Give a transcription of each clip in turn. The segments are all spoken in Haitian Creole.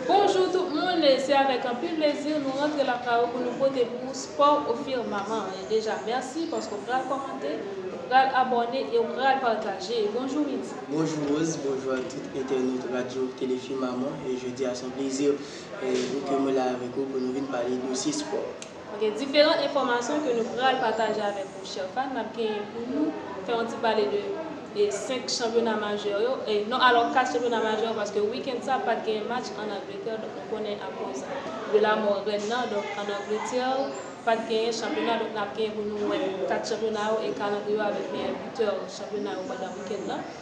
Bonjour tout moun se avèk anpil plezi nou rantre lakay ou pou nou pote pou ou sport au firmament e deja merci paske ou pral kòmante ou pral abòne e ou pral pataje bonjour Midi. Bonjou Rose, bonjou ak tout entènot radyo tele firmament, jodi a son plezi pou ke mwen la avèk ou pou nou vin pale dosye spò. Gen diferan enfòmasyon ke nou pral pataje avèk ou chè fan, nap genyen pou nou fè yon ti pale de 5 chanpyona majè yo, non alò 4 chanpyona majè yo paske weekend sa pat genyen match an Angleterre donk nou konnen akoz de la mò rèn nan donk an Angleterre pat genyen chanpyona donk nap genyen pou nou wè 4 chanpyona yo e kalandriye yo avèk meyè butè chanpyona yo pandan weekend nan.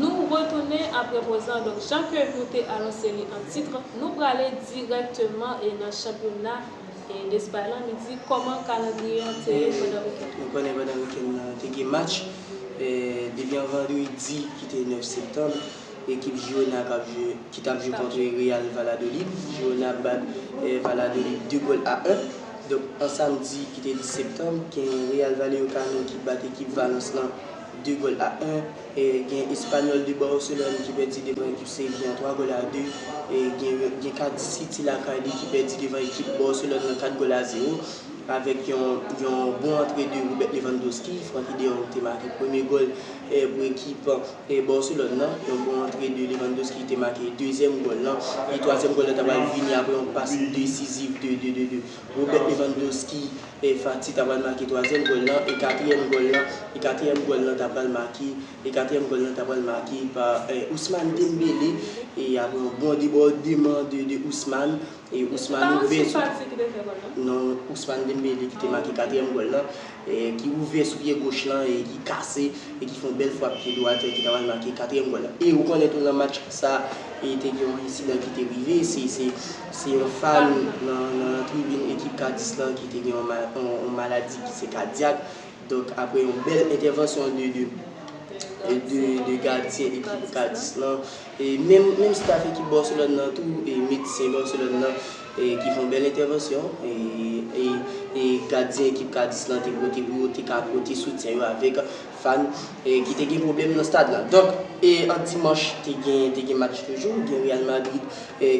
Nou retounen apre poz lan donk jan ke nou te anonse li an titre nou prale dirèkteman e nan chanpyona Despay lan nou di kòman kalandriye an te ye pandan wikenn lan. Nou konnen pandan wikenn lan te gen match depi an vandredi ki te 9 septanm ekip Girona kap jwe ki tap jwe kontre Real Valladolid Girona bat Valladolid 2 gòl a 1 donk an samdi ki te 10 septanm gen Real Vallecano ki bat ekip Valence lan 2 gòl a 1, gen Espanyòl de Barcelone ki pèdi devan ekip Sevilla an 3 gòl a 2, gen Cardiff City lakay li ki pèdi devan ekip Barcelone lan 4 gòl a 0 avèk yon bon antre de Robert Lewandowski, Francky de Jong te make premye gòl pou ekip Barcelone lan, yon bon antre de Lewandowski ki te make dezyèm gòl lan, e twazyèm gòl lan ta pral vini aprè yon pas desiziv de. Robert Lewandowski Fati ta pral make twazyèm gòl lan e katriyèm gòl lan e katriyèm gòl lan ta pral make e katriyèm gòl lan ta pral make pa Ousmane Dembele e aprè yon bon debòdeman de Ousmane e Ousmane ouvè sou non Ousmane Dembele ki te make katriyèm gòl lan ki ouvè sou pye goch lan e ki kase e ki fè yon bèl frap pye dwat ki ta pral make katriyèm gòl lan. E ou konnen tou nan match sa e te gen yon ensidan ki te rive, se yon fan nan tribin ekip Cadis lan ki te gen yon maladi ki se kadyak, donk aprè yon bèl entèvansyon de gadyen ekip Cadis lan, Menm staff ekip Barcelone nan tou, medsen Barcelone nan ki fon bèl entèvansyon, gadyen ekip Cadiz lan te pote pou yo te ka pote soutyen yo avèk fan ki te gen pwoblèm nan stad lan. Donk an dimanch te gen match toujou, gen Real Madrid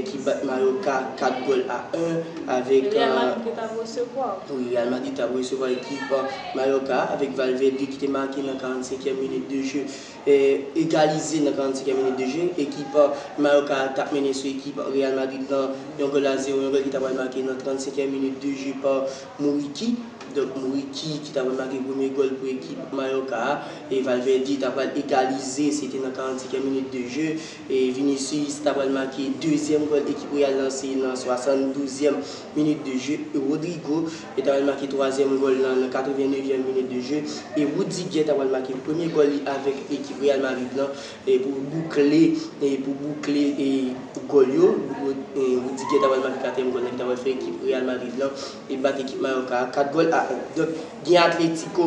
ki bat Mallorca 4 gòl a 1 avèk. Real Madrid ki tap resevwa. Wi, Real Madrid tap resevwa ekip Mallorca avèk Valverde ki te make nan 45 minit de je. egalize nan 45 e minit de je, ekip Mallorca a tap mennen sou ekip Real Madrid lan yon gòl a zewo, yon gòl ki ta pral make nan 35 e minit de je pa Muriqi, donk Muriqi ki ta pral make premye gòl pou ekip Mallorca a, e Valverde ta pral egalize se te nan 45 e minit de je, e Vinicius ta pral make dezyèm gòl ekip Real lan se nan 72 e minit de je, e Rodrygo. Yo ta pral make twazyèm gòl lan nan 89 vyèm minit de je e Rudiger ta pral make premye gòl li avèk ekip Real Madrid lan pou boukle pou boukle gòl yo. Rudiger ta pral make katriyèm gòl lan ki ta pral fè ekip Real Madrid lan bat ekip Mallorca a 4 gòl a 1. Donk gen Atletico.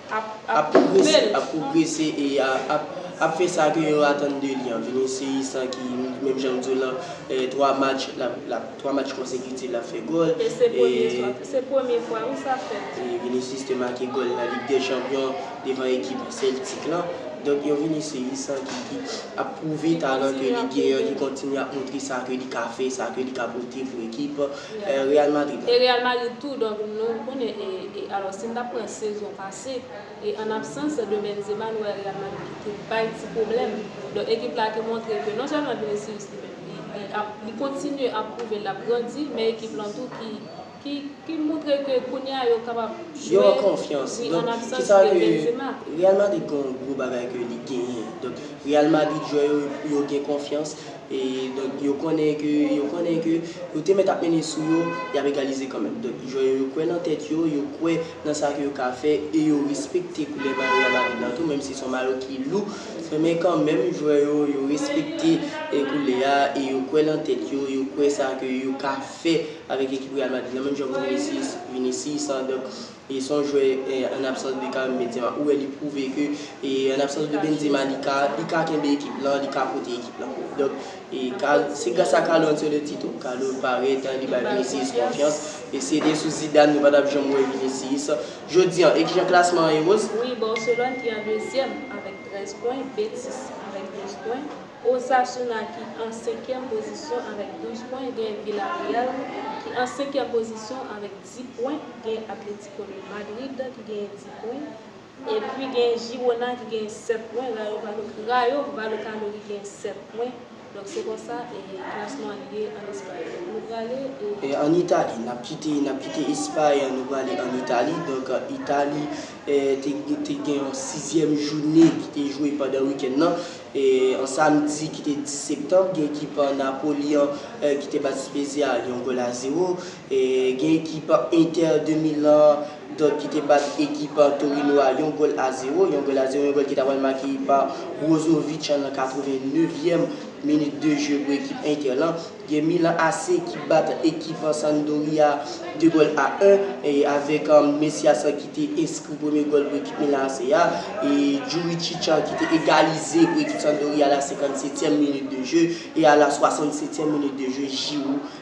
ap pwogrese e ap fè sa ke yo atann de li an. Vinicius lan ki menm jan m di w lan 3 match lap 3 match konsekitif lap fè gòl. E se premye fwa se premye fwa wi sa fèt. Vinicius te make gòl nan Ligue des Champions devan ekip Celtic lan. Donk yon Vinicius lan ki ap pwouve talan ke li gen an, ki kontinye ap montre sa ke li ka fè, sa ke li ka pote pou ekip. E Real Madrid la? E Real Madrid tou donk nou konnen e e alò si n ta pran sezon pase e an absans de Benzema nou wè Real Madrid ki te bay ti pwoblèm donk ekip la te montre ke non sèlman Vinicius li menm li li ap li kontinye ap pwouve l ap grandi men ekip lan tou ki ki ki montre ke kounye a yo kapab Yo jwe an konfyans wi an donk ki absans sa de ke Benzema. Real Madrid gen yon gwo bagay ke li genyen donk Real Madrid jwè yo yo gen konfyans. E donk yo konnen ke, yo konnen ke yo te mèt ap mennen sou yo, y ap egalize kanmenm. Donk jwè yo, yo kwè nan tèt yo, yo kwè nan sa ke yo ka fè e yo respekte koulè mayo Real Madrid la tou, menm si se yon mayo ki lou, men kanmenm jwè yo, yo respekte koulè a e yo kwè nan tèt yo, yo kwè sa ke yo ka fè avèk ekip Real Madrid la, menm jan pou Vinicius, Vinicius, donk. E son jwè an absans de Karim Benzema ou wè li prouve ke an absans de Benzema li ka li ka kenbe ekip lan li ka pote ekip lan donk e se gras a Carlo Ancelotti tou Carlo parèt li bay Vinicius konfyans e se te sou Zidane nou pa tap janm wè Vinicius jodi an e kijan klasman an ye Rose? Wi Barcelone ki an dezyèm avèk 13 pwen, Betis avèk 12 pwen, Osasuna ki an senkyèm pozisyon avèk 12 pwen, gen Villarreal ki an senkyèm pozisyon avèk. 10 pwen, gen Atlético de Madrid ki genyen 10 pwen, epi gen Girona ki genyen 7 pwen, Rayo Vallecano ki genyen 7 pwen, donk se konsa klasman an ye an Espay. Donk nou prale. An Itali, n ap kite n ap kite Espay an, nou prale an Itali, donk Itali te gen yon sizyèm joune ki te jwe pandan wikenn nan, an samdi ki te 10 septanm, gen ekip Napoli an ki te bat Spezia yon gòl a zewo, Gen ekip Inter de Milan dòt ki te bat ekip Torino a yon gòl a zewo, yon gòl a zewo, yon gòl ki ta pral make pa Brozovic nan 89 yèm minit de je pou ekip Inter lan. Gen Milan AC ki bat ekip Sampdoria 2 gòl a 1 avèk Messias ki te enskri premye gòl pou ekip Milan AC a e Juricic ki te egalize pou ekip Sampdoria a la 57 yèm minit de je e a la 67 yèm minit de je Giroud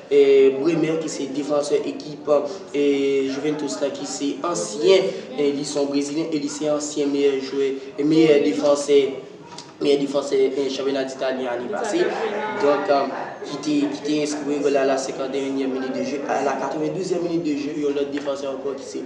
Bremer ki se defansè ekip Juventus la ki se ansyen li son brezilyen e li se ansyen meyè jwè meyè defansè meyè defansè chanpyona d'Italie ane pase donk ki te ki te enskri gòl la a la 51 nyèm minit de jeu a la 92 nyèm minit de jeu yon lòt defansè ankò ki se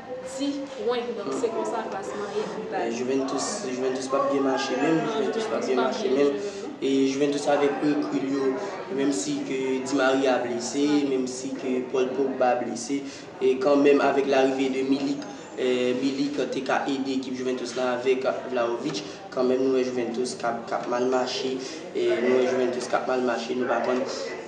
Ti pwen, donk se konsa klasman ye pi ba. Juventus Juventus pap byen mache menm, non Juventus pap byen mache menm e Juventus avèk rekul yo menm si ke Di Maria blese, menm si ke Paul Pogba blese e kan menm avèk larive de Milik Milik te ka ede ekip Juventus la avèk Vlahovic kan menm nou wè Juventus kap kap mal mache e nou wè Juventus kap mal mache nou pa konn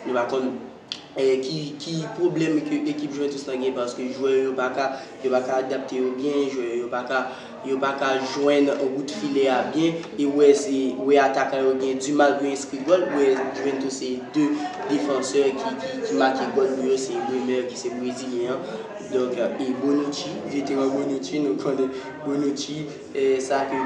nou pa konn ki pwoblèm ekip Juventus lan gen paske jwè yo pa ka yo pa ka adapte yo byen, jwè yo yo pa ka yo pa ka jwenn wout filè a byen e wè se wè atakan yo gen di mal pou yo enskri gòl wè Juventus se 2 defansè ki make gòl pou yo se Bremer ki se brezilyen an donk e Bonucci veteran Bonucci nou konnen Bonucci sa ke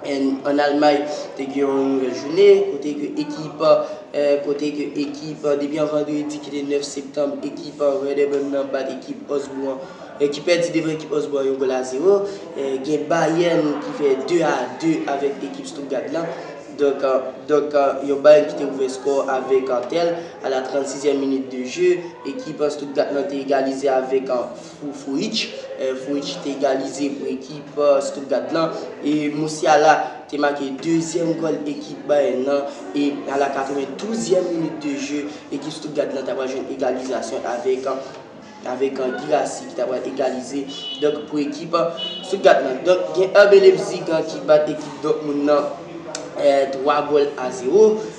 An Almay te gen yon nouvèl jounen kote ke ekip kote ke ekip depi yon vandredi ki te 9 septanm ekip Werder Bremen bat ekip Osbourn ki pèdi devan ekip Osbourn 1 gòl a 0 gen Bayern ki fè 2 a 2 avèk ekip Stuttgart lan donk donk yon Bayern ki te ouvè skò avèk Tel a la 36 èm minit de je ekip Stuttgart lan te egalize avèk Pou Furich, Furich te egalize pou ekip Stuttgart lan e Musiala te make dezyèm gòl ekip Bayern nan e a la 92 zièm minit de je ekip Stuttgart lan ta pral jwenn egalizasyon avèk avèk Guirassy ki ta pral egalize donk pou ekip Stuttgart lan. Donk gen RB Leipzig ki bat ekip Dortmund nan 3 gòl a 0.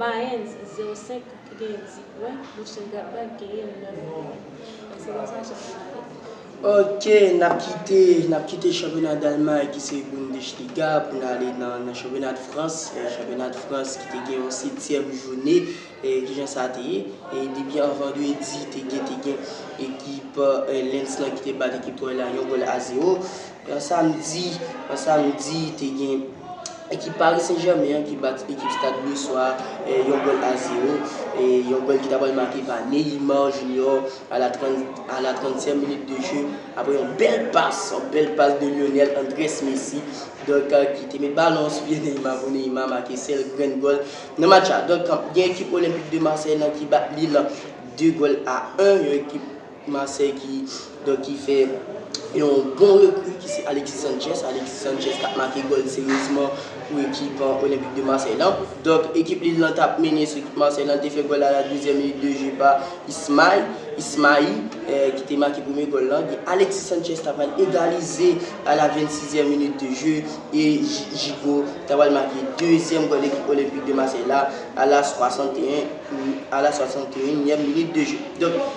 Mayens 0 5 ki genyen 10 pwen, Mönchengladbach genyen 9 pwen. Ekselans a chak fanatèk. Ok nap kite nap kite chanpyona dalmay ki se Bundesliga pou n ale nan nan chanpyona de frans e chanpyona de frans ki te gen yon setyèm joune e kijan sa te ye e depi an vandredi te gen te gen ekip lens lan ki te bat ekip troy la yon gòl a zewo Yon samdi yon samdi te gen ekip Paris Saint Germain an ki bat ekip Stade Breçois yon gòl a zewo. Yon gòl ki ta pral make pa Neymar Junior a la 30 a la 30 tièm minit de je aprè yon bèl pas yon bèl pas de Lionel Andrès Messi donk ki te met balon an sou pye Neymar pou Neymar make sèl grenn gòl nan match la. Donk gen ekip Olympique de Marseille lan ki bat Lille 2 gòl a 1 yon ekip Marseille ki donk ki fè yon bon rekri ki se Alexis Sanchez, Alexis Sanchez kap make gòl seryezman pou ekip Olympique de Marseille lan. Donk ekip Lille lan tap mennen sou ekip Marseille lan, te fè gòl la la dezyèm minit de jeu pa Ismaï, Ismaï, ki te make premye gòl lan. Gen Alexis Sanchez ta pral egalize a la 26 zièm minit de jeu e Gigo ta pral make dezyèm gòl ekip Olympique de Marseille la a la 61 a la 61 nièm minit de jeu.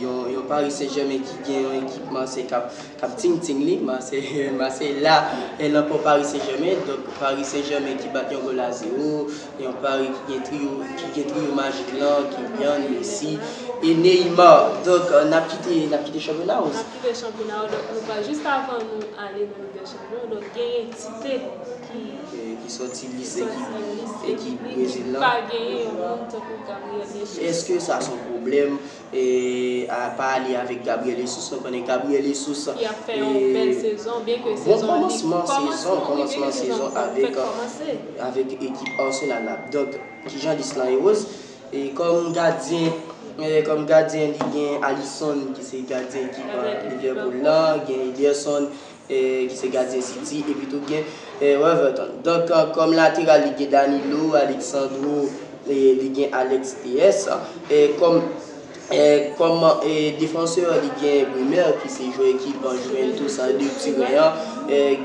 Yon Paris Saint Germain ki gen yon ekip Marseille kap ting ting li, Marseille la nan po Paris Saint Germain, donk Paris Saint Germain ki bat yon gòl a zero, yon Paris ki gen trio majik lan, Kylian, Messi e Neymar, donk nap kite chanpyona ou. Nap kite chanpyona ou, donk nou pral jis avan nou ale nan Ligue des Champions. Yon lòt gen entite ki sòti lise ki pa genyen yon moun tankou Gabriel Yesus. Eske sa son pwoblèm apa li avèk Gabriel Yesus nou konnen Gabriel Yesus ki ap fè yon bèl sezon byen ke sezon li kòmansman wi byen ke sezon an fèk kòmanse avèk ekip Arsenal la donk kijan lis lan ye Rose e kòm gadyen kòm gadyen li gen Alison ki se gadyen ekip Liverpool lan gen Ederson. ki se gadyen City, epitou gen Weverton. Donk kòm lateral li gen Danilo, Alexandro, li gen Alex Telles, kòm kòm defansè li gen Bremer ki se jwè ekip Juventus de Turen an,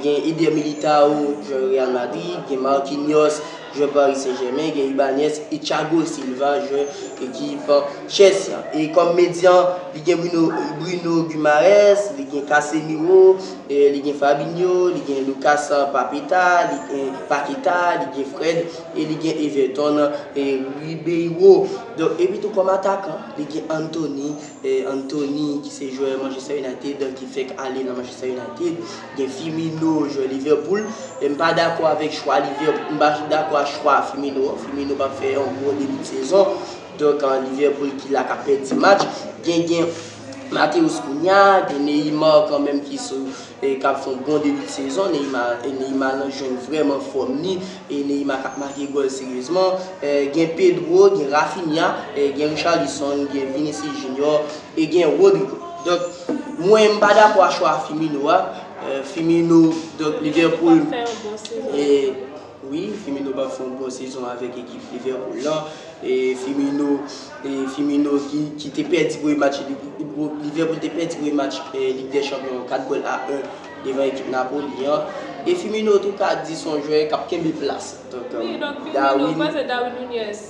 gen Eder Militao jwè Real Madrid, gen Marquinhos Jwè Paris Saint Germain gen Ibanez e Thiago Silva jwè ekip Chelsea an. E kòm medyan li gen Bruno Guimaraes, li gen Casemiro, li gen Fabinho, li gen Lucas Papeta, li gen Paqueta, li gen Fred e li gen Everton Ribeiro. Donk epi tou kòm atakan li gen Antony, Anthony ki se jwè Manchester United ki fèk ale nan Manchester United. Gen Firmino jwè Liverpool, men m pa dakò avèk chwa Liverpool, m pa dakò ak chwa Firmino an, Firmino pa fè yon bon debi de sezon, donk Liverpool ki la kap pèdi match, gen gen Matheus Cunha, gen Neymar kanmenm ki sou e kap fè yon bon debi de sezon, Neymar e Neymar lan jwenn vrèman fòm li, e Neymar kap make gòl seryezman, gen Pedro, gen Raphinha, gen Richarlison, gen Vinicius Junior, E gen Rodrygo. Donk, mwen m pa dakò a chwa Firmino a. Firmino, donk Liverpool. Pap fè yon bon sezon nan. E wi, Firmino pap fè yon bon sezon avèk ekip Liverpool lan. E Firmino, e Firmino ki te pèdi premye match Liverpool te pèdi premye match Lig dè Chanpyon an 4 gòl a 1 devan ekip Napoli an. E Firmino tou ka di son jwè kap kenbe plas. Donk, Darwin. Wi, donk Firmino, pase Darwin Nunez.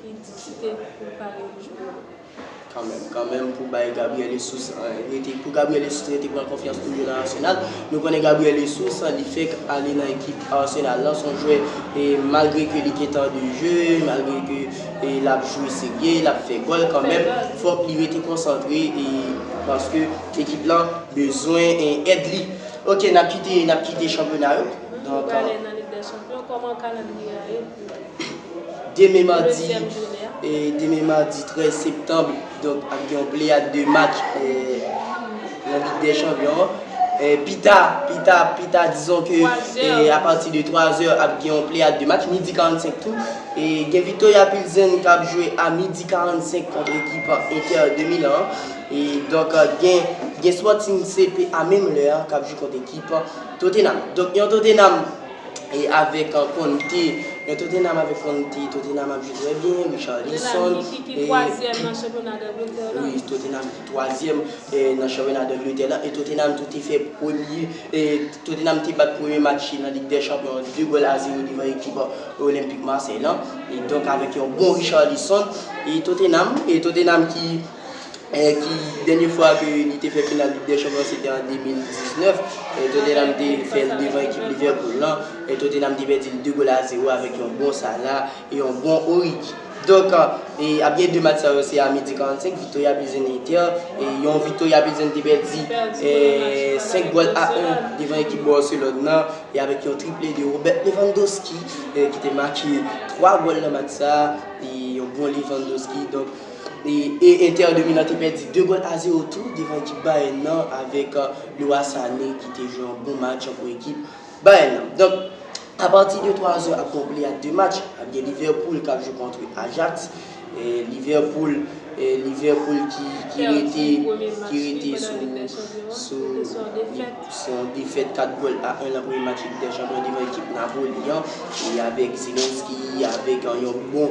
Li di ki te pou pale pou jwè yo. Kanmenm, kanmenm pou bay Gabriel Jesus rete, pou Gabriel Jesus rete pran konfyans tou jwe nan Arsenal. Nou konnen Gabriel Jesus li fèk ale nan ekip Arsenal lan, son jwè malgre ke li gen tan de jeu, malgre ke lap jwe serye, lap fè gòl kanmenm fòk li rete konsantre paske ekip lan bezwen èd li. Ok nap kite, nap kite chanpyona yo. Nou prale nan Lig dè Chanpyon, kòman kalandriye a ye? Demen madi 13 septanm ap gen yon pleyad de match nan lig dè chanpyon an. Pita, pita, pita dizon ke apati de 3 zè ap gen yon pleyad de match, midi 45 tou. E gen Victoria Pilsen k ap jwe a midi 45 kont ekip Inter de Milan an. E donk gen Sporting CP a menm lè an k ap jwe kont ekip Tottenham. Donk yon Tottenham. e avèk Conte, men Tottenham avèk Conte, Tottenham ap jwe trè byen, Richarlison, e... Tottenham ki ki twazyèm nan chanpyona d'Angletè lan. Wi, Tottenham ki twazyèm nan chanpyona d'Angletè lan, e Tottenham tou te fè premye, e Tottenham te bat premye match li nan Lig dè Chanpyon an 2 gòl a 0 devan ekip Olympique Marseille lan, e donk avèk yon bon Richarlison, e Tottenham, e Tottenham ki ki dènye fwa ke li te fè final Lig dè Chanpyon an se te an 2019, Tottenham te fè l devan ekip Liverpool lan, Tottenham te pèdi l 2 gòl a 0 avèk yon bon Salah e yon bon Origi. Donk, ap gen 2 match sa yo se a midi 45, Victoria Pilsen Inter, yon Victoria Pilsen te pèdi 5 gòl a 1 devan ekip Barcelone lan e avèk yon triple de Robert Lewandowski ki te make 3 gòl nan match sa, yon bon Lewandowski. E Inter de Milan te pèdi 2 gòl a 0 tou devan ekip Bayern nan avèk Leroy Sané ki te jwe yon bon match pou ekip Bayern nan. Donk, a pati de 3 zè ap gen yon pleyad de match. Ap gen Liverpool k ap jwe kontre Ajax. Liverpool ki rete sou yon defèt 4 gòl a 1 nan premye match Lig dè Chanpyon devan ekip Napoli an. E avèk Zelensky, avèk yon bon.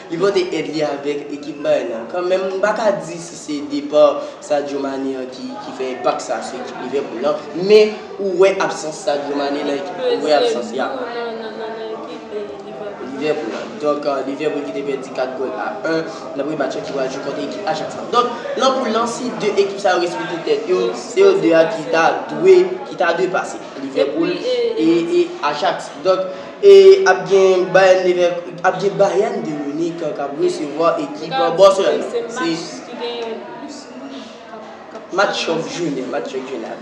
Li pote èd li avèk ekip Bayern nan. Kanmenm, m pa ka di si se depa Sadio Mané an ki fè enpak sa sou ekip Liverpool lan, men ou wè absans Sadio Mané nan ekip ou wè absans ya Liverpool lan. Donk Liverpool ki te pèdi 4 gòl a 1 nan premye match lan ki pral jwe kont ekip Ajax lan. Donk nan poul lan si 2 ekip sa yo respekte tèt yo, se yo 2 a ki ta dwe pase, Liverpool e Ajax. E ap gen Bayern de Munich k ap resevwa ekip Barcelone. Se match chòk jounen an.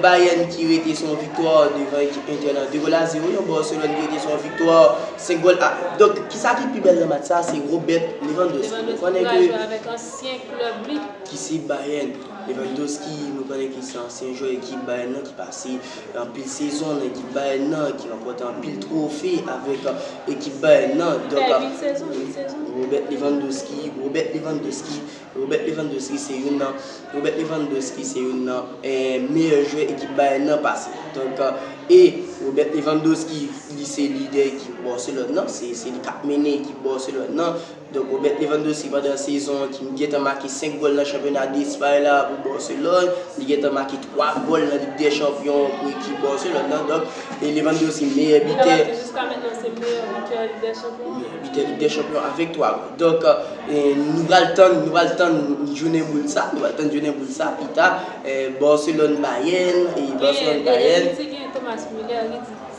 Bayern ki rete sou yon viktwa devan ekip Inter nan 2 gòl a 0. Yon Barcelone ki rete sou yon viktwa 5 gòl a 1. Donk ki sa ki pi bèl nan match sa a se Robert Lewandowski. Nou konnen ke. Lewandowski ki jwe avèk ansyen klèb li. Ki se Bayern. Lewandowski nou konnen ke se ansyen jwè ekip Bayern nan ki pase. Anpil sezon nan ekip Bayern nan ki ranpòte anpil twofe avèk ekip Bayern nan. Robert Lewandowski Robert Lewandowski Robert Lewandowski se youn nan Robert Lewandowski se youn nan meyè jwè ekip Bayern nan pase. Donk e Robert Lewandowski li se lidè ekip Barcelone nan, se li k ap mennen ekip Barcelone nan. Donk Robert Lewandowski pandan sezon an ki gentan make 5 gòl nan chanpyona Despay la pou Barcelone, li gentan make 3 gòl nan Lig dè Chanpyon an pou ekip Barcelone nan, donk Lewandowski meyè bitè. Lewandowski jiska mentnan se meyè bitè Lig dè Chanpyon an. Meyè bitè Lig dè Chanpyon an avèk 3 gòl. Donk nou pral tann, nou pral tann jounen boul sa, nou pral tann jounen boul sa pita Barcelone Bayern, Barcelone Bayern. Gen yon piti gen Thomas Müller li di.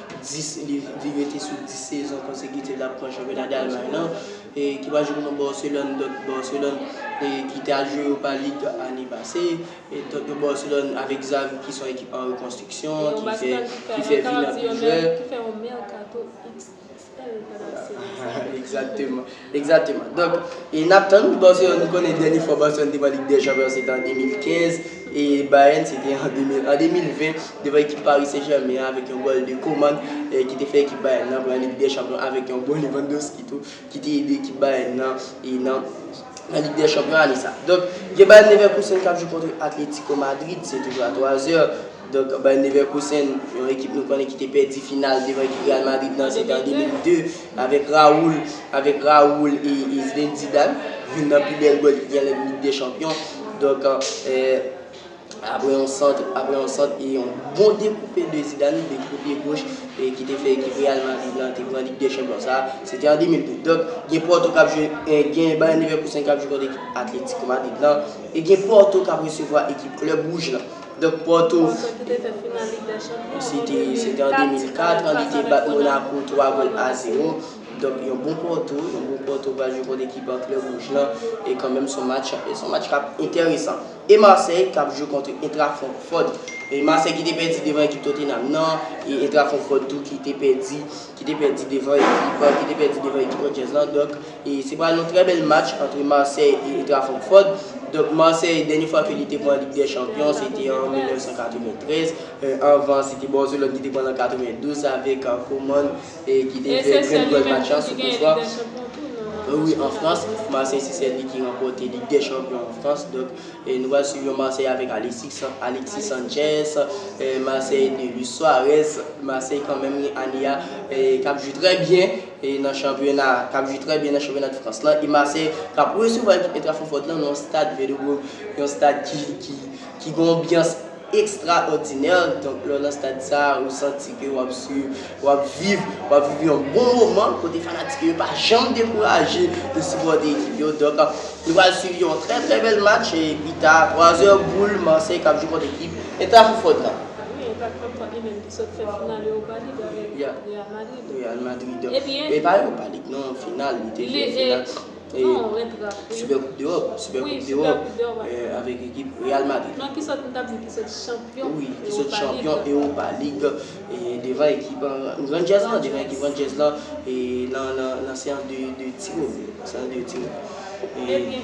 10 liv li mete sou 10 sezon konsekitif l ap pran chanpyona Dalmay lan, ki pral jwe kont yon Barcelone, Dort Barcelone, ki te al jwe Europa League ane pase. Dort yon Barcelone avèk Xavi ki se yon ekip an rekonstriksyon, ki fè vini anpil jwè. Yon Barcelone ki fè yon mèkato XXL pandan sezon sa. Egzakteman. Egzateman. Donk, e nap tann pou Barcelone, nou konnen dènye fwa Barcelone te pran Lig dè Chanpyon an se te an 2015 e Bayern se te an 2020 devan ekip Paris Saint Germain an avèk yon gòl de Coman ki te fè ekip Bayern nan pran Lig dè Chanpyon an avèk yon gòl Lewandowski tou ki te ede ekip Bayern nan e nan nan Lig dè Chanpyon ane sa. Donk, gen Bayer Leverkusen kap jwe kontre Atletico Madrid, se toujou a 3 zè. Donk Bayer Leverkusen, yon ekip nou konnen ki te pèdi final devan ekip Real Madrid nan, se te an 2002, avèk Raul, avèk Raul e Zinedine Zidane, youn nan pi bèl gòl ki gen lan Lig dè Chanpyon. Donk, aprè yon sant, aprè yon sant e yon bon dekoupe de Zidane, dekoupe pye goch e ki te fè ekip Real Madrid lan te pran Lig dè Chanpyon sa a, se te an 2002. Donk, gen Porto k ap jwe, gen Bayer Leverkusen k ap jwe kont ekip Atlético Madrid lan e gen Porto k ap resevwa ekip Club Rouge lan. Donk Porto se te an 2004 an li te bat Monaco 3 gòl a 0. Donk yon bon Porto, yon bon Porto pral jwe kont ekip an klè wouj lan e kanmenm son match son match kap enteresan. E Marseille kap jwe kont Eintracht Francfort. E Marseille ki te pèdi devan ekip Tottenham nan e Eintracht Francfort tou ki te pèdi ki te pèdi devan ekip ki te pèdi devan ekip Rangers lan donk. Se pral yon trè bèl match antre Marseille e Eintracht Francfort. Donk Marseille dènye fwa ke li te pran Lig dè Chanpyon se te an 1993. Anvan se te Barcelone ki te pran l an 92 avèk Koman ki te fè grenn gòl match an sou kout fwa. Wi an Frans, Marseille se sèl li ki ranpòte Lig dè Chanpyon an Frans. Donk nou pral swiv yon Marseille avèk Alexis Sanchez, Marseille de Luis Suarez. Marseille kanmenm ane a k ap jwe trè byen. E nan chanpyona a, k ap jwe trè byen nan chanpyona de Frans lan, e Marseille k ap resevwa ekip Eintracht Francfort lan nan yon stad Velodrome, yon stad ki gen yon anbyans ekstraòdinè. Donk lè w nan stad sa a, ou santi ke w ap swiv, w ap viv, w ap viv yon bon moman kote fanatik yo pa janm dekouraje de sipòte ekip yo. Donk nou pral swiv yon trè trè bèl match e pita a twazè boul Marseille k ap jwe kont ekip Eintracht Francfort lan. Wi, Eintracht Francfort li menm ki sot fè final Europa League avèk Real Madrid. Real Madrid e pa Europa League non final li te jwe final Super Coupe d'Europe Super Coupe d'Europe avèk ekip Real Madrid non ki sòt m tap di ki sòt chanpyon oui ki sòt chanpyon Europa League e devan ekip Rangers lan devan ekip Rangers lan e nan nan nan seans de de tiro seans de tiro e